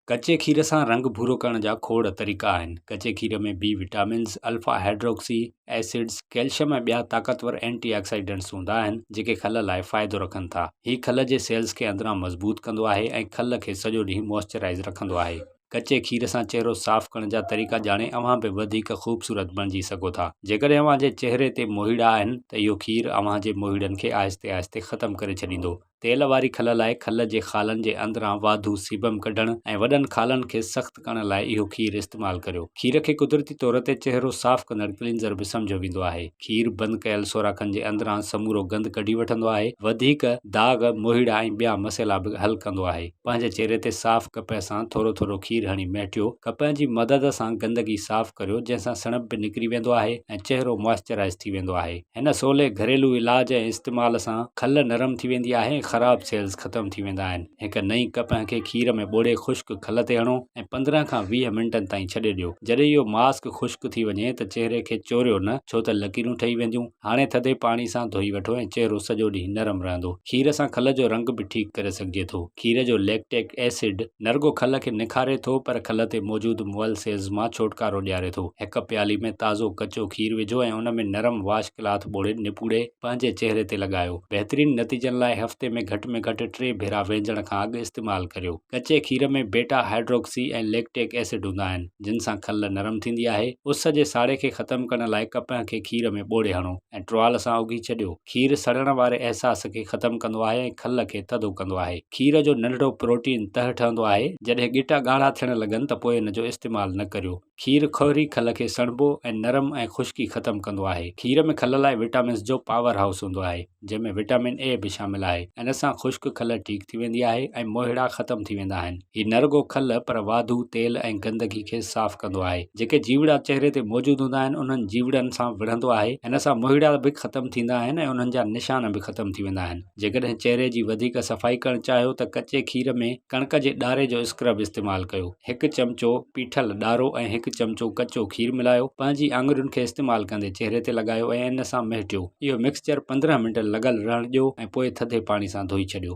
ڪچي کير سان رنگ ڀورو ڪرڻ جا کوڙ طريقا آهن. ڪچي کير ۾ B vitamins, alpha hydroxy acids, calcium ۽ ٻيا طاقتور اينٽي آڪسائيڊنٽس هوندا آهن، جيڪي کل لاء فائدو رکن ٿا. هي کل جي سيلز کي اندران مضبوط ڪندو آهي ۽ کل کي سڄو ڏينهن موئسچرائيز رکندو آهي. ڪچي کير سان چهرو صاف ڪرڻ جا طريقا ڄاڻي اوهان به وڌيڪ خوبصورت بڻجي سگهو ٿا. جيڪڏهن اوهان جي چهري تي موهيڙا آهن ته اهو کير اوهان جي موهيڙن کي آهستي آهستي ختم ڪري ڇڏيندو. تيل واري کل لاء کل جي خالن جي اندران واڌو سيبم ڪڍڻ ۽ وڏن خالن کي سخت ڪرڻ لاء اهو کير استعمال ڪريو. کير کي قدرتي طور تي چهرو صاف ڪندڙ ڪلينزر به سمجهيو ويندو آهي. کير بند ڪيل سوراخن جي اندران سمورو گند ڪڍي وٺندو آهي. وڌيڪ داغ، موهيڙا ۽ ٻيا مسئلا به حل ڪندو آهي. پنهنجي چهري تي صاف ڪپهه سان ٿورو ٿورو کير هڻي مهٽيو. ڪپهه جي مدد سان گندگي صاف ڪريو جنهن سان سڻڀ به نڪري ويندو آهي ۽ چهرو موئسچرائيز ٿي ويندو آهي. هن سولي گهريلو علاج ۽ استعمال سان کل نرم ٿي ويندي آهي ۽ خراب سيلز ختم ٿي ويندا آهن. هڪ نئين ڪپهه کي کير ۾ ٻوڙي خشڪ کل تي هڻو ۽ پندرهن کان ويهه منٽن تائين ڇڏي ڏيو. جڏهن اهو ماسڪ خشڪ ٿي وڃي ته چهري کي چوريو نه ڇو ته لڪيرون ٺهي وينديون. هاڻي ٿڌي پاڻي سان ڌوئي وٺو ۽ چهرو سڄو ڏينهن نرم رهندو. کير سان کل جو رنگ به ٺيڪ ڪري سگهجي ٿو. کير جو ليڪٽيڪ ايسڊ نه رڳو کل کي نکاري ٿو پر کل تي موجود مئل سيلز مان ڇوٽڪارو ڏياري ٿو. هڪ پيالي ۾ تازو ڪچو کير وجهو ۽ ان ۾ نرم واش ڪلاٿ ٻوڙي نپوڙي پنهنجي چهري تي لڳايو. بهترين نتيجن لاء هفتي ۾ گهٽ ۾ گهٽ ٽي ڀيرا وينجڻ کان اڳ استعمال ڪريو. ڪچي کير ۾ بيٽا هائڊروڪسي ۽ ليڪٽيڪ ايسڊ هوندا آهن جن سان کل نرم ٿيندي آهي. اس جي ساڙي کي ختم ڪرڻ لاء ڪپهه کي کير ۾ ٻوڙي هڻو. ۽ ٽروال سان اگهي ڇڏيو. کير سڙڻ واري احساس کي ختم ڪندو آهي ۽ کل کي ٿڌو ڪندو آهي. کير جو ننڍڙو پروٽين تهه ٺهندو آهي. جڏهن ڳٽا ڳاڙها ٿيڻ لڳن ته پوء ان جو استعمال نه ڪريو. کير کهري کل کي سڻڀو ۽ نرم ۽ خشڪي ختم ڪندو آهي. کير ۾ کل لاء وٽامنز جو پاور هائوس هوندو آهي، جنهن ۾ وٽامن اي به شامل آهي. ان سان خشڪ کل ٺيڪ ٿي ويندي آهي ۽ موهيڙا ختم ٿي ويندا آهن. هي نه رڳو کل پر واڌو تيل ۽ گندگي کي صاف ڪندو آهي. جيڪي جيوڙا چهري تي موجود هوندا آهن انهن جيوڙن سان وڙهندو آهي. ان سان موهيڙا به ختم ٿيندا آهن ۽ انهن جا نشان به ختم ٿي ويندا آهن. جيڪڏهن چهري جي وڌيڪ صفائي ڪرڻ چاهيو ته ڪچي کير ۾ ڪڻڪ جي ڏاري جو اسڪرب استعمال ڪيو. هڪ چمچو پيٺل ڏارو ۽ هڪ چمچو ڪچو کير ملايو. پنهنجي آڱرين کي استعمال ڪندي چهري تي لڳايو ۽ ان سان مهٽيو. اهو مڪسچر پندرهن منٽ لڳل رهڻ ڏيو ۽ پوء ٿڌي پاڻي سان ڌوئي ڇڏيو.